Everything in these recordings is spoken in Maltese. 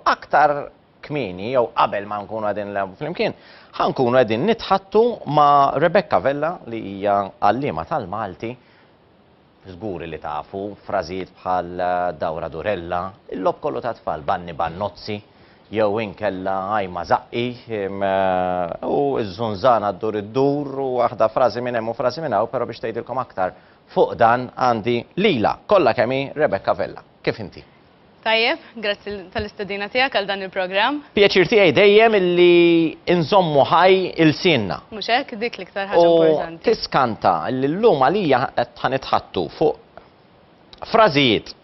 Aktar kmieni jew qabel ma nkunu qegħdin nilgħabu flimkien, ħa nkunu qegħdin nitħattu ma' Rebecca Vella li hija għalliema tal-Malti, żguri li tafu frażijiet bħal dawra durella, il-logħob kollu tat-tfal, banni bannozzi, jew inkella għajma żaqqi, u ż-żunżana ddur iddur u waħda frażi minn hemm u frażi minn hawn, però biex tgħidilkom aktar fuq dan għandi lilha kollha kemm hi Rebecca Vella. Kif inti? Tajjeb, grazzi tal-istedina tiegħek għal dan il-programm. Pjaċir tiegħi dejjem li nżommu ħaj ilsienna. Mhux hekk, dik l-iktar ħaġa importanti. U tiskanta li llum għalija qed ħanitħattu fuq frażijiet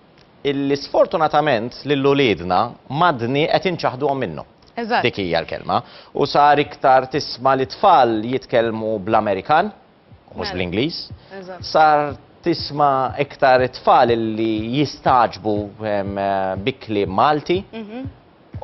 illi sfortunatament lil uliedna madni qed inċaħduhom minnu. Dik hija l-kelma. U sar iktar tisma' li tfal jitkellmu bl-Amerikan. mhux Mela. bl-Ingliż, Eżatt. sar tisma' iktar it-tfal li jistagħġbu em, eh, bi kliem Malti Mhm.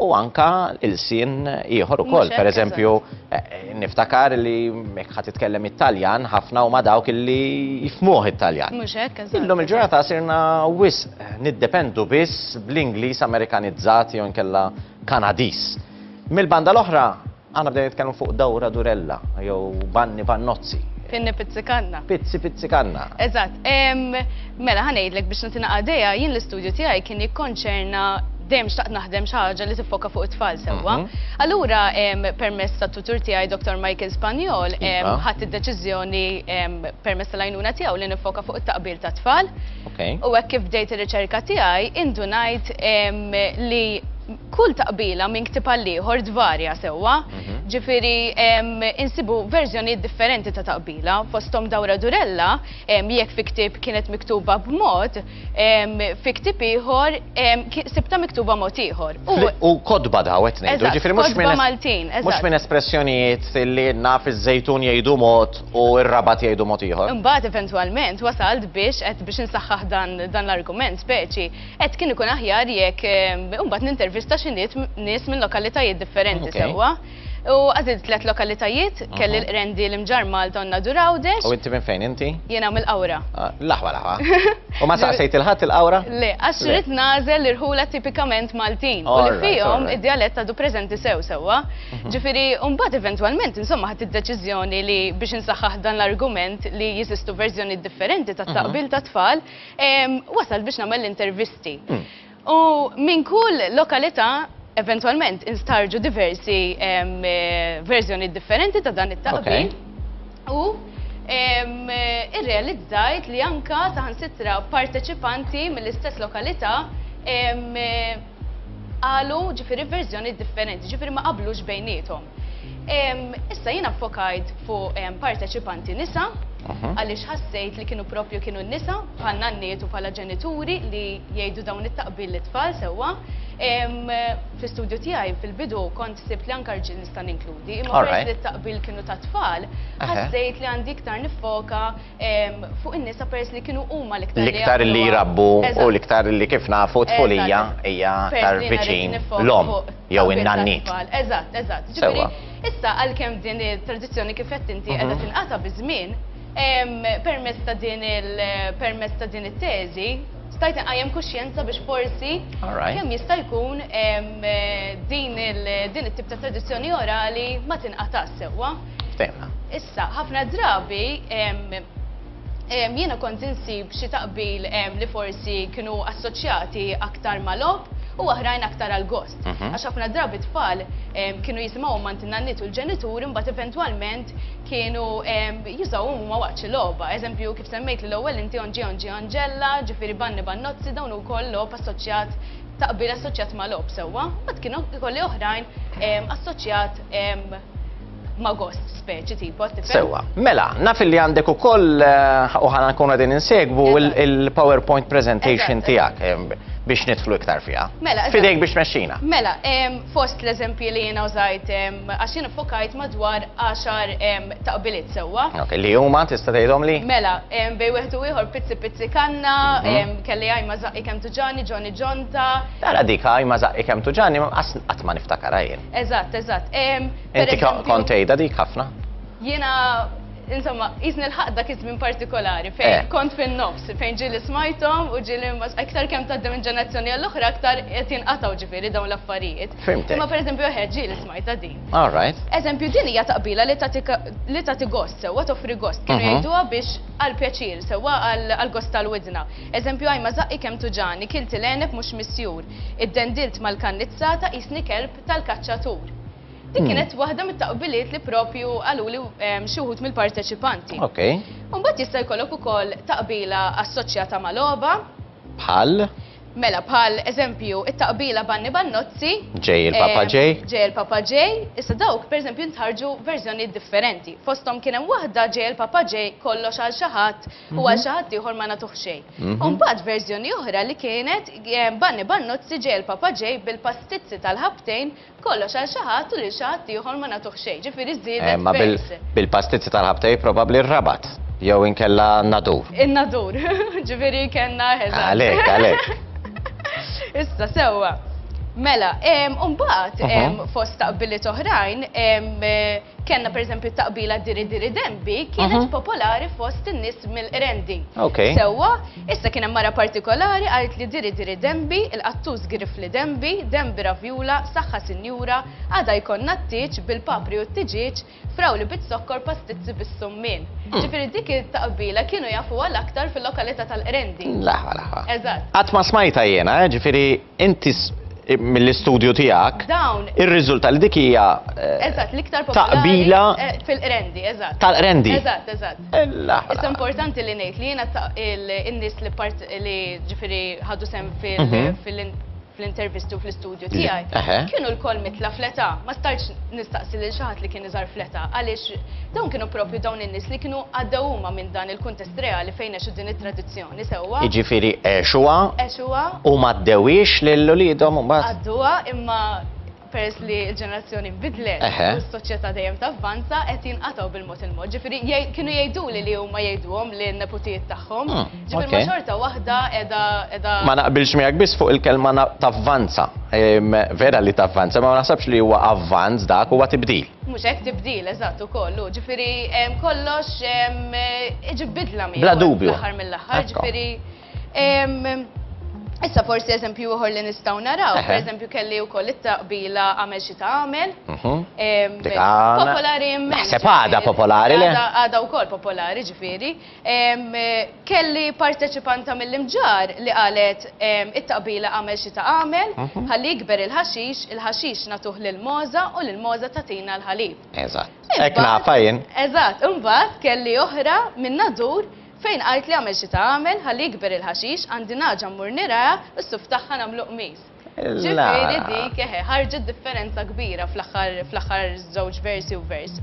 u anka ilsien ieħor Mhux ukoll. hekk, Pereżempju, eh, niftakar li jekk ħadd titkellem it-Taljan ħafna huma dawk illi jifhmuh it-Taljan. Mhux hekk, eżatt. Illum il-ġurnata sirna wisq niddependu biss bl-Ingliż Amerikanizzat jew inkella Kanadiż. Mill-banda l-oħra, Aħna bdejna nitkellmu fuq dawra durella, jew banni bannozzi. Pinni pizzikanna. Pizzi pizzikanna. Eżatt. Mela, ħanejdlek biex natina għadeja, jien l-istudju tiegħi kien jikkonċerna dejjem xtaqt naħdem xi ħaġa li tiffoka fuq it-tfal sewwa. Mhm. Allura permess tat-tutur tiegħi Dr. Michael Spanjol iva. ħadd id-deċiżjoni permess tal-għajnuna tiegħu li nifoka fuq it-taqbil tat-tfal. U hekk kif bdejt ir-riċerka tiegħi indunajt li Kull taqbila minn ktieb għal ieħor tvarja sewwa, ġifieri insibu verżjonijiet differenti ta' taqbila, fosthom Dawra Durella, jekk fi ktieb kienet miktuba b'mod, fi ktieb ieħor sibtha miktuba mod ieħor. U kotba daw qed ngħidu, ġifieri mhux minn. Eżatt, kotba Maltin, eżatt. Mhux minn espressjonijiet li għedna fiż-Żejtun jgħidu mod u r-Rabat jgħidu mod ieħor. Imbagħad eventwalment wasalt biex, qed biex insaħħaħ dan l-argument speċi, Qed kien ikun aħjar jekk imbagħad nintervista xi nies minn lokalitajiet differenti sewwa. U għażilt tliet lokalitajiet, kelli l-qrendi l-imġar Malta u Nadur Għawdex. U inti minn fejn inti? Jiena mill-Qawra. L-aħwa l-aħwa. U ma saqsejt il-ħadd il-Qawra? Le, għax rrid nagħżel l-irħula tipikament Maltin. U li fihom id-djalett għadu preżenti sew sewwa. Ġifieri, u mbagħad eventwalment insomma ħadt id-deċiżjoni li biex insaħħaħ dan l-argument li jeżistu verżjonijiet differenti tat-taqbil tat-tfal, Wasalt biex nagħmel l-intervisti. U minn kull lokalità eventwalment instarġu diversi verżjonijiet differenti ta' dan it-taqbil. U irrealizzajt li anke saħansitra parteċipanti mill-istess lokalità qalu ġifieri verżjonijiet differenti, ġifieri ma qablux bejniethom. Issa jiena fokajt fuq parteċipanti nisa, mhm. għaliex ħassejt li kienu propju kienu nisa bħal nanniet u bħala ġenituri li jgħidu dawn it-taqbil li tfal sewwa. Fl-istudju tiegħi fil-bidu kont sibt li anka rġil nista' ninkludi, imma peress li t-taqbil kienu ta' tfal, ħassejt li għandi iktar nifoka fuq in-nisa peress li kienu huma l-iktar l-iktar li jrabbu u l-iktar li kif nafu tfulija hija aktar viċin l-om jew in-nannit. Eżatt, eżatt. Ġifieri, issa għalkemm din it-tradizzjoni kif qed inti qiegħda mhm. tinqata' biż-żmien, permezz ta' din il-permezz ta' din it-teżi, stajt inqajjem kuxjenza biex forsi kemm jista' jkun din il-din it-tip ta' tradizzjoni orali ma tinqatax sewwa. Ftemna. Issa, ħafna drabi jiena kont insib xi taqbil li forsi kienu assoċjati aktar mal-ob u oħrajn aktar għal-gost. Mhm. Għax ħafna drabi tfal kienu jisimaw ma n-nannit u l-ġenitur imbagħad eventwalment kienu jużaw huma waqt xi logħba. Eżempju kif semmejt li l-ewwel inti onġi onġi onġella, ġifieri banni bannozzi dawn ukoll logħob assoċjat taqbil assoċjat ma' lob sewwa, ma kienu ikolli oħrajn assoċjat ma gost speċi tipo tifhem. Sewa, mela, naf li għandek ukoll eh, u ħana nkun qegħdin insegwu il-PowerPoint presentation tiegħek eh, biex nidħlu iktar fiha. Mela, fidejk biex mexxina. Mela, fost l-eżempji li jiena użajt għax jien fokajt madwar 10 taqbiliet sewwa. Li huma tista' tgħidhom li? Mela, bej wieħed u ieħor pizzi pizzi kanna, mhm. kelli għajma zaqqi kemm tuġani, Johnny Jonta. Tara dik għajma zaqqi kemm tuġani, qatt ma niftakarha jien. Eżatt, eżatt. Inti kont tgħidha dik ħafna? Jiena insomma, jizni l-ħaq dak iż-żmien partikolari fejn eh. kont fin-nofs, fejn ġili smajtom u ġili iktar kemm tgħaddi minn ġenerazzjoni għall-oħra aktar qed jinqatgħu ġifieri dawn l-affarijiet. Fimtek. Imma pereżempju oħed ġili smajta din. All right. Eżempju din hija taqbila li tagħti gost sewwa toffri gost kienu mhm. jgħiduha biex għal pjaċir sewwa għal gost tal-widna. Eżempju għajma zaqqi kemm tuġani, kilti l-għeneb mhux misjur. Iddendilt mal-kannizza ta' qisni kelb tal-kaċċatur. Dik kienet waħda mit-taqbiliet li propju qaluli xi wħud mill-parteċipanti. Okej. Imbagħad jista' jkollok ukoll taqbila assoċjata ma' logħba. Bħal? Mela, bħal eżempju, it-taqbila Banni Bannozzi. Ġej il-Papa Ġej. Ġej il-Papa Ġej. Issa dawk, pereżempju, ntħarġu verżjonijiet differenti. Fosthom kien hemm waħda Ġej il-Papa Ġej kollox għal xi ħadd u għal mhm. xi ħadd ieħor ma nagħtuh xejn. Mhm. Imbagħad verżjoni oħra li kienet eh, Banni Bannozzi ġej il-Papa ġej bil-pastizzi tal-ħabtejn kollox għal xi ħadd u lil xi ħadd ieħor ma nagħtuh xejn. Ġifieri żiedet. Eh, ma bil-pastizzi tal-ħabtejn probabbli r-rabat jew inkella nadur. In-nadur, ġifieri kellna ħeża. Għalek, għalek. Issa sewwa. Mela, mbagħad fost taqbiliet oħrajn eh, Kenna per eżempju taqbila diri diri dembi kienet mhm. popolari fost in-nies mill-Qrendi. Okay. Sewwa, issa kien hemm mara partikolari għalt li diri diri dembi, il-qattus grif li dembi, dembi ravjula, saħħa sinjura, għada jkollna t-tiġ bil-papri u t-tiġiġ, frawli bit-sokkor pastizzi bis-summin. Hmm. Ġifieri dik it-taqbila kienu jafu għal aktar fil-lokalità tal-Qrendi. Laħa laħa. Eżatt. Qatt ma smajta jiena, eh, ġifieri Inti mill-istudju tiegħek irriżulta li dik hija Eżatt, l-iktar taqbila eh, fil-qrendi, eżatt. Tal-qrendi. Eżatt, eżatt. Issa importanti li ngħid li jiena in-nies li part li ġifieri ħadu sem fil mhm. fl-intervistu fl-istudju tiegħi, kienu l-koll mitla fleta, ma starċ nistaqsi lil xaħat li kien iżar fleta, għaliex dawn kienu propju dawn in-nies li kienu għaddew huma minn dan il-kuntest reali fejn għexu din it-tradizzjoni. Nisewwa. Jiġifieri għexuha. Għexuha. U ma ddewwiex lil uliedhom imbagħad. Għadduha imma peress li l-ġenerazzjoni bidlet u s-soċjetà dejjem tavvanza qed jinqatgħu bil-mod il-mod. Ġifieri kienu jgħiduli li huma jgħiduhom li neputijiet tagħhom. Ah, Ġifieri ma xorta waħda qiegħda Ma naqbilx miegħek biss fuq il-kelma tavvanza. Vera li tavvanza, ma naħsabx li huwa avvanz dak huwa tibdil. Mhux hekk, tibdil, eżatt, ukoll hu. Ġifieri kollox iġib bidla miegħu. Bla dubju. Fl-aħħar mill-aħħar, ġifieri. Issa forsi eżempju ieħor li nistgħu naraw, per eżempju kelli wkoll it-taqbila għamel xi tagħmel. Popolari immens. Sepada popolari le. Għada wkoll popolari ġifieri. Kelli parteċipanta mill-Imġarr li qalet it-taqbila għamel xi ta' għamel, mhm. ħalli jikber il-ħaxix, il-ħaxix natuh lil Moza u lil Moza tatina l-ħalib. Eżatt. Hekk nafa jien. Eżatt, imbagħad kelli oħra minn nadur fejn qalt li għamel xi ta' għamel ħalli jikber il-ħaxix għandi naġa mmur niraha u s-suf tagħha nagħmlu qmis. Ġifieri dik eħe, ħarġet differenza kbira fl-aħħar żewġ versi u vers.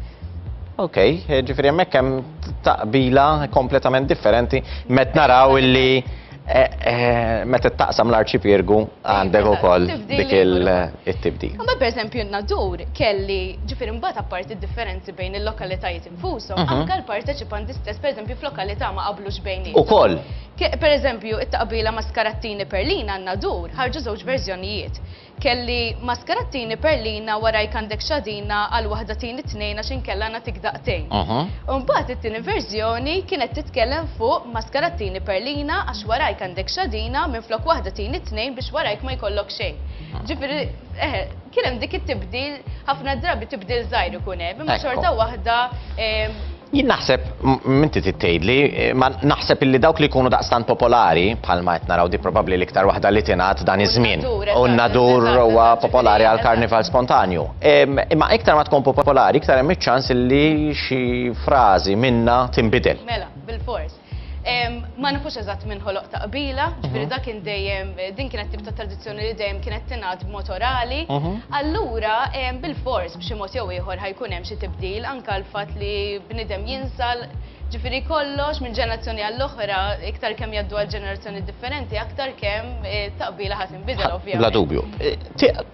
Ok, ġifieri hemmhekk hemm taqbila kompletament differenti met naraw illi eh, eh, meta taqsam l-arċipirgu għandek ukoll dik il-tibdil. Ma per eżempju n-nadur kelli ġifieri mbagħad apparti differenzi bejn il-lokalitajiet infushom, mhm. anke l-parteċipanti stess per eżempju f'lokalità ma qablux bejn. Ukoll. Per eżempju, it-taqbila Mascarattini Perlina n-Nadur ħarġu żewġ verżjonijiet. Kelli Mascarattini Perlina warajk għandek x'għadina għal waħda tini tnejn għax inkella nagħtik daqtejn. Imbagħad it-tieni verżjoni kienet titkellem fuq Mascarattini Perlina għax warajk għandek x'għadina minflok waħda tini tnejn biex warajk ma jkollok xejn. Ġifieri, eħe, kien hemm dik it-tibdil, ħafna drabi tibdil żgħir ikun hemm, imma xorta waħda, Jien naħseb, inti trid tgħidli, imma naħseb illi dawk li jkunu daqstant popolari, bħalma qed naraw di probabbli l-iktar waħda li tingħad dan iż-żmien. U n-nadur huwa popolari għall-karnival spontanju. Imma iktar ma tkun popolari, iktar hemm iċ-ċans illi xi frażi minnha tinbidel. Mela, bilfors. Ma nafux eżatt minn ħoloq ta' qbila, ġifieri dak kien dejjem din kienet tip ta' tradizzjoni li dejjem kienet tingħad b'mod orali. Allura bil-fors b'xi mod jew ieħor ħajkun hemm xi tibdil anke l-fatt li bniedem jinsa ġifieri kollox minn ġenerazzjoni għall-oħra iktar kemm jgħaddu għal ġenerazzjoni differenti aktar kemm it-taqbila ħa Bla dubju.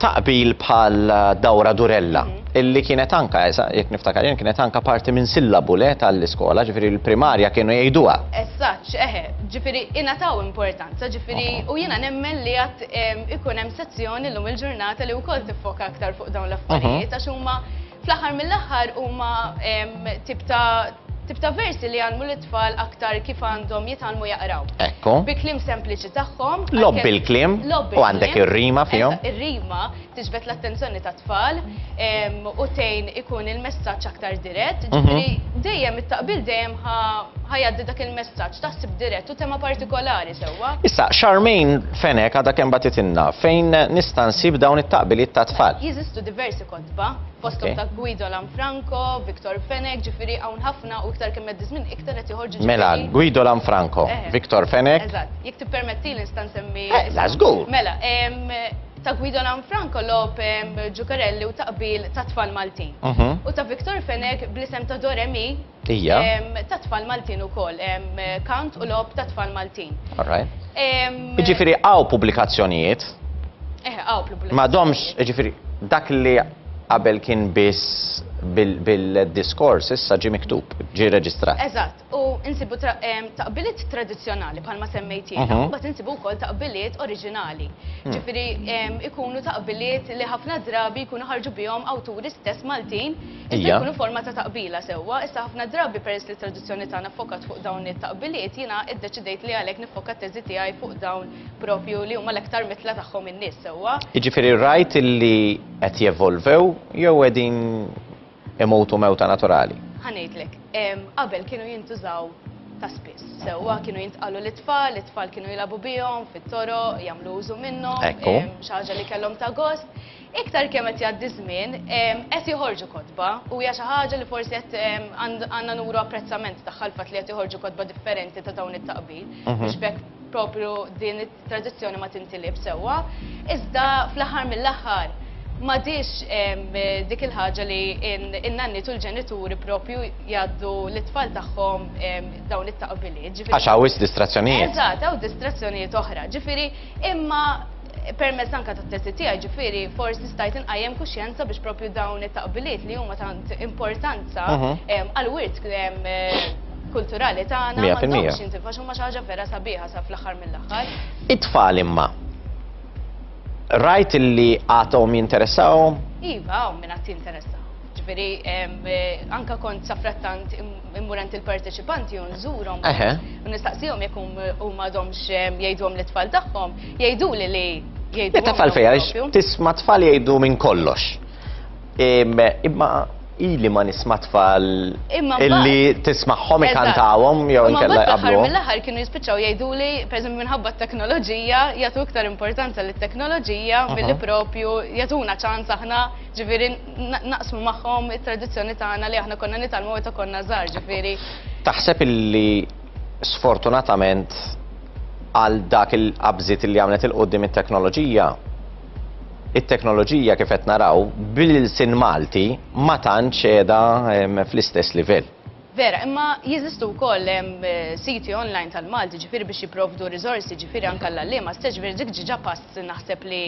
Taqbil bħal dawra durella, mhm. illi kienet anka, jek niftakar, jen kienet anka parti minn sillabu le tal-iskola, ġifiri l-primarja kienu jgħiduha. Essaċ, eħe, ġifiri inataw importanza, ġifiri u jina nemmen li għat ikun hemm sezzjoni l-lum il-ġurnata li u kol tiffoka aktar fuq dawn l-affarijiet, mhm. għax huma fl-aħħar mill-aħħar huma tip ta' Tip ta' versi li jgħallmu lit-tfal aktar kif għandhom jitgħallmu jaqraw. Ekku. Bi kliem sempliċi tagħhom. Logħob bil-kliem. Logħob bil-kliem. U għandek ir-rima fihom. Eżatt, ir-rima tiġbed l-attenzjoni tat-tfal u tgħin ikun il-messaġġ aktar dirett. Ġifieri, dejjem it-taqbil dejjem ħa jgħaddi dak il-messaġġ ta' ħsieb dirett u tema partikolari sewwa. Issa, Charmaine Fenech għadha kemm bagħtitilna fejn nista' nsib dawn it-taqbiliet tat-tfal. Jeżistu diversi kotba. l-imħasba, fosthom ta' Guido Lanfranco, Victor Fenech, ġifieri hawn ħafna u iktar kemm għaddi żmien iktar qed joħorġu ġifieri. Mela, Guido Lanfranco, eh. Victor Fenech. Eżatt, jekk tippermettili nista' nsemmi. Eh, la żgur. Mela, ta' Guido Lanfranco lob Ġukarelli u taqbil ta' tfal Maltin. Mhm. U ta' Victor Fenech bl-isem ta' Doremi Ija. Ta' tfal Maltin u koll, kant u lob ta' tfal Maltin. Alright. Iġifiri għaw publikazzjonijiet. Eh, għaw publikazzjonijiet. Ma domx, iġifiri, dak li qabel kien biss bil-diskors, issa ġi miktub, ġi reġistrat. Eżatt, u insibu taqbiliet tradizjonali bħalma semmejt jiena, mhm. bat insibu wkoll taqbiliet oriġinali. Hmm. Ġifieri ikunu taqbiliet li ħafna drabi jkunu ħarġu bihom awturi stess Maltin Issa jkunu forma ta' taqbila sewwa, issa ħafna drabi peress li t-traduzzjoni tagħna fokat fuq dawn it-taqbiliet, jiena iddeċidejt li għalhekk niffoka t-teżi tiegħi fuq dawn propju li huma l-aktar mitla tagħhom in-nies sewwa. Jiġifieri rajt li qed jevolvew jew qegħdin imutu mewta naturali? Ħa ngħidlek, qabel kienu jintużaw ta' spiss. Sewwa kienu jintqalu l-itfal, l-itfal kienu jilabu bihom fit-toroq, jagħmlu użu minnhom, xi ħaġa li kellhom ta' gost. Iktar kemm qed jgħaddi ż-żmien, qed joħorġu kotba u hija xi ħaġa li forsi qed għandna nuru apprezzament tagħha l-fatt li qed joħorġu kotba differenti ta' dawn it-taqbid mhm. biex bekk propju din it-tradizzjoni ma tintilib sewwa. Iżda fl-aħħar mill-aħħar madix dik il-ħaġa li n-nanni tul ġenituri propju jaddu l-tfal tagħhom dawn it-taqbiliet. Għax hawn distrazzjonijiet. Eżatt, hawn distrazzjonijiet oħra. Ġifieri imma Permezz anke tat-testi tiegħi ġifieri forsi stajt inqajjem kuxjenza biex propju dawn it-taqbiliet li huma tant importanza għall-wirt kulturali tagħna ma għandhomx jintilfu għax huma xi ħaġa vera sabiħa sa fl-aħħar mill-aħħar. It-tfal imma rajt li għadhom jinteressahom? Iva, hawn min għad jinteressah. Ġifieri anke kont safrattant immur għand il-parteċipanti u nżurhom. U nistaqsihom jekk huma għadhomx jgħidhom lit-tfal tagħhom, jgħiduli li jgħidu. Tafal fejja, tisma' tfal jgħidu minn kollox. Imma ili ma nisma tfal illi tismaħħom ikantawhom jew inkella jqablu. Mill-aħħar kienu jispiċċaw jgħiduli, pereżempju minħabba t-teknoloġija, jagħtu iktar importanza lit-teknoloġija milli propju jagħtuna ċans aħna ġifieri naqsmu magħhom it-tradizzjoni tagħna li aħna konna nitgħallmu meta konna żgħar, ġifieri. Taħseb illi sfortunatament għal dak il-qabżiet li għamlet il-qudiem it-teknoloġija, it-teknoloġija kif qed naraw bil-sin Malti ma tantx qiegħda fl-istess livell. Vera, imma jeżistu wkoll siti online tal-Malti ġifieri biex jipprovdu riżorsi ġifieri anke għall-għalliema stess, ġifieri dik ġiġa pass naħseb li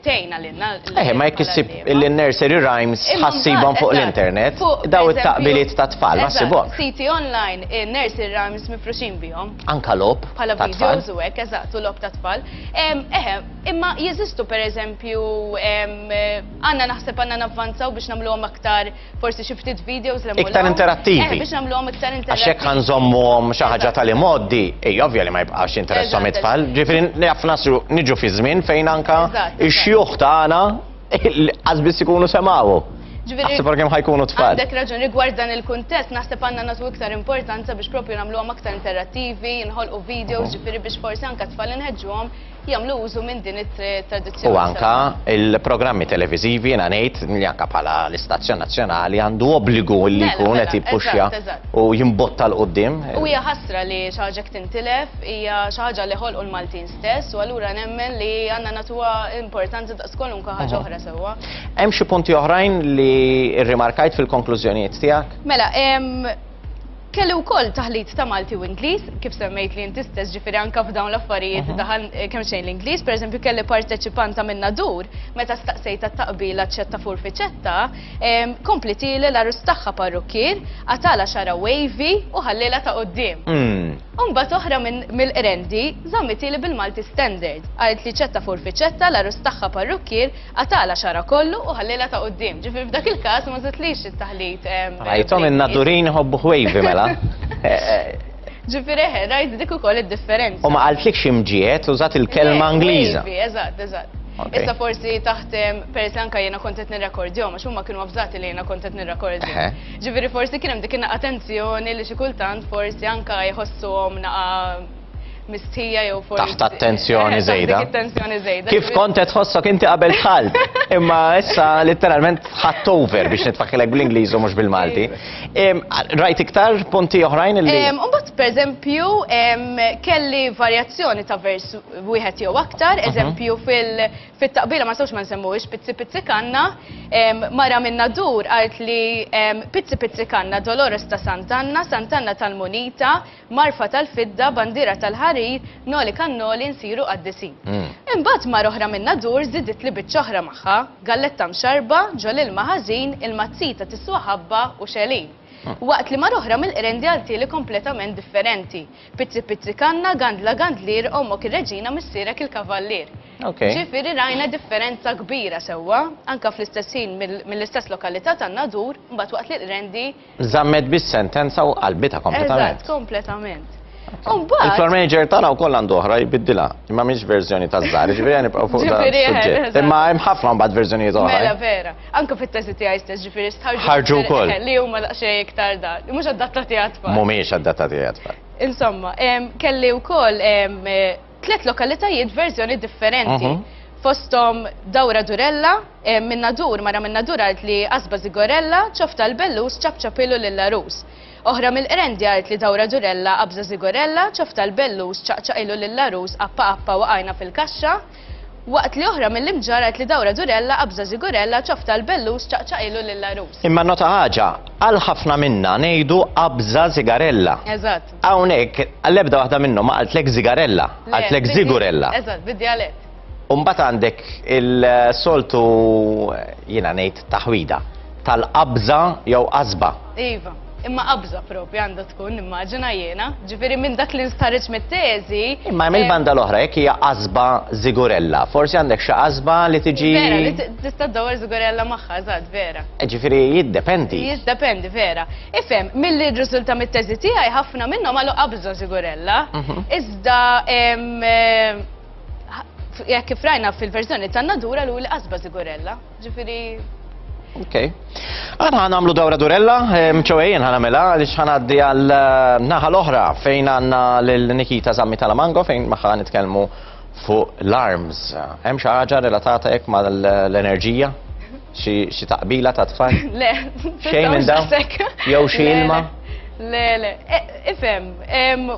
tgħinna lilna l-għalliema. Eħe, ma jekk issib il-nursery rhymes ħa ssibhom fuq l-internet, daw it-taqbiliet tat-tfal ma ssibhomx. Eżatt, siti online in-nursery rhymes mifruxin bihom. Anke logħob tat-tfal. Bħala videos u hekk, eżatt, u logħob tat-tfal. Eħe, imma jeżistu pereżempju għandna naħseb għandna navvanzaw biex nagħmluhom aktar, forsi xi ftit videos li Iktar interattivi. Eh, biex nagħmluhom iktar interattivi. Għax hekk ħanżommuhom xi ħaġa tal-imoddi, ej ovvja li ma jibqax interessom it-tfal. Ġifieri naf nasru niġu fi żmien fejn anka ix-xjuħ tagħna qasbis ikunu semgħu. Ġviri. Għasib għem ħajkunu tfal. Għandek raġun rigward dan il-kontest, naħseb għanna natu iktar importanza biex propju namlu għam aktar interattivi, nħolqu videos, ġviri biex forsi anka tfal nħedġu jagħmlu użu minn din it-tradizzjoni. U anka il-programmi televiżivi jiena ngħid li anka bħala l-istazzjon nazzjonali għandu obbligu li mela, jkun mela, qed jippuxja u jimbotta l qudiem U hija ħasra li xi ħaġa tintilef, hija xi ħaġa li ħolqu l-Maltin stess u allura nemmen li għandna natuha importanza daqs kwalunkwe ħaġa oħra sewwa. Hemm xi punti oħrajn li rrimarkajt fil-konklużjonijiet tiegħek? Mela, Kelli wkoll taħlit ta' Malti u Ingliż, kif semmejt li inti stess ġifieri anke f'dawn l-affarijiet daħal eh, kemm xejn l-Ingliż, pereżempju kelli parteċipanta minn Nadur meta staqsejta taqbila ċetta furfiċetta, ehm, komplitili l-arus tagħha parrukkier, għatala xara wavy u ħallilha ta' qudiem. Hmm. Umbat oħra mill-qrendi żammitili bil-Malti standard, qalet li ċetta furfiċetta l-arus tagħha parrukkier Qatagħlha xagħarha kollu u ħallielha ta' quddiem. Ġifieri f'dak il-każ ma żidtlix it-taħlit. Rajthom in-nadurin iħobbu ħwejvi mela. Ġifieri eħe, rajt dik ukoll id-differenza. U ma qaltlikx imġiegħed, użat il-kelma Ingliża. Ħwejvi, eżatt, eżatt. Issa forsi taħt peress li anke jiena kont qed nirrekordjhom għax huma kienu avżati li jiena kont qed nirrekordja. Ġifieri forsi kien hemm dik in-naqa' tensjoni li xi kultant forsi anke jħossuhom naqa' mistħija jew forsi. Taħt attenzjoni żejda. Kif kont qed tħossok inti qabel tħall, imma issa letteralment ħadd over biex nitfakkilek bl-Ingliż u mhux bil-Malti. Rajt iktar punti oħrajn li. Imbagħad pereżempju kelli varjazzjoni ta' vers wieħed jew aktar, mhm. eżempju fil-taqbila ma sewx ma nsemmux pizzi pizzi kanna, mara minna dur għalt li pizzi pizzi kanna Dolores ta' Santanna, Santanna tal-Munita, Marfa tal-fidda, bandiera tal-ħarir, Noli kan noli, nsiru qaddisin. Imbagħad mara oħra min-Nadur żiditli biċċa oħra magħha, galletta mxarrba, ġo l-ilma ħażin, il-mazzita tiswa ħabba u xegħlin. Waqt li mara oħra mill-Qrendi għaltieli kompletament differenti, Pizzi pizzi kanna, gandla gandlier, ommok ir-reġina missierek il-kavallier. Ġifieri rajna differenza kbira sewwa, anke fl-istess ħin mill-istess lokalità tan-Nadur, imbagħad waqt li l-Qrendi, Żammet bis-sentenza u qalbitha kompletament. Eżatt, kompletament. Il-floor manager tagħna wkoll għandu oħra jbiddilha, imma mhix verżjoni ta' żgħar, ġifieri nibqgħu fuq dan suġġett. Imma hemm ħafna mbagħad verżjonijiet oħra. Mela vera, anke fit-teżi tiegħi stess ġifieri stħarġu. Ħarġu wkoll. Li huma daqsxejn iktar dan, mhux adattati għat-tfal. Mhumiex adattati għat-tfal. Insomma, kelli wkoll tliet lokalitajiet verżjoni differenti. Mhm. Fosthom Dawra Durella, eh, minna dur mara minna dur għalt li Asba Zigorella, ċofta l-Bellus ċapċapilu lill-Arus. Oħra mill-Qrendi għalt li Dawra Durella, Abza Zigorella, ċofta l-Bellus ċaqċaqilu lill-Arus appa appa waqajna fil-kaxxa. Waqt li oħra mill-Imġar għalt li Dawra Durella, Abza Zigorella, ċofta l-Bellus ċaqċaqilu lill-Arus. Imma nota ħaġa, għal ħafna minna ngħidu Abza Zigarella. Eżatt. Hawnhekk għall-ebda waħda minnhom ma qaltlek zigarella, qaltlek zigurella. Eżatt, bid-dialett. Umbat għandek il-soltu jiena ngħid taħwida tal-qabża jew qasba. Iva, imma qabża propja għandha tkun immaġina jiena, ġifieri minn dak li nstħarġ mit-teżi. Imma hemm il-banda eh, l-oħra jekk hija qasba żigurella, forsi għandek xi qasba li tiġi. Vera, li tista' dawwar żigurella magħha, eżatt, vera. Eh, ġifieri jiddependi. Jiddependi, vera. Ifhem, milli rriżulta mit-teżi tiegħi ħafna minnhom għalu qabża żigurella, iżda jekk kif rajna fil-verżjoni ta' Nadura l qasba żigurella. Ġifieri Ok. Għana għana għamlu dawra durella, mċoħejn għana mela, għalix għana għaddi għal eh, naħa l-oħra fejn għanna l-Nikita Zammi Talamango fejn maħħa nitkelmu fuq l-arms. Hemm xi ħaġa relatata hekk mal-enerġija? Xi taqbila ta' tfal? Le, xejn minn dawn. Jew xi ilma? Le, le, e, ifhem,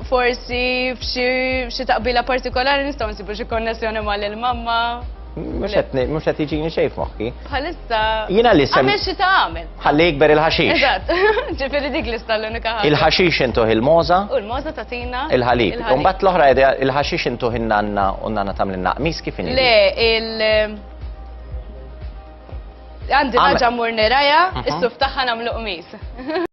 forsi f'xi taqbila partikolari nistgħu nsibu xi konnessjoni mal-mamma. Mux għet iġini xej f'moħħi. Bħalissa. Jina li sem. Għamil xie ta' għamil. Għalli jikber il-ħaxix. Eżat, ġifiri dik lista l-unika ħagġa. Il-ħaxix intuħ il-moza. U l-moza ta' tina. Il-ħalib. Umbat l-oħra il-ħaxix intuħ il-nanna u nanna tamlinna. Mis kif Le, il- Għandi ħaġa mmur nirajha, is-suf tagħha nagħmlu qmis.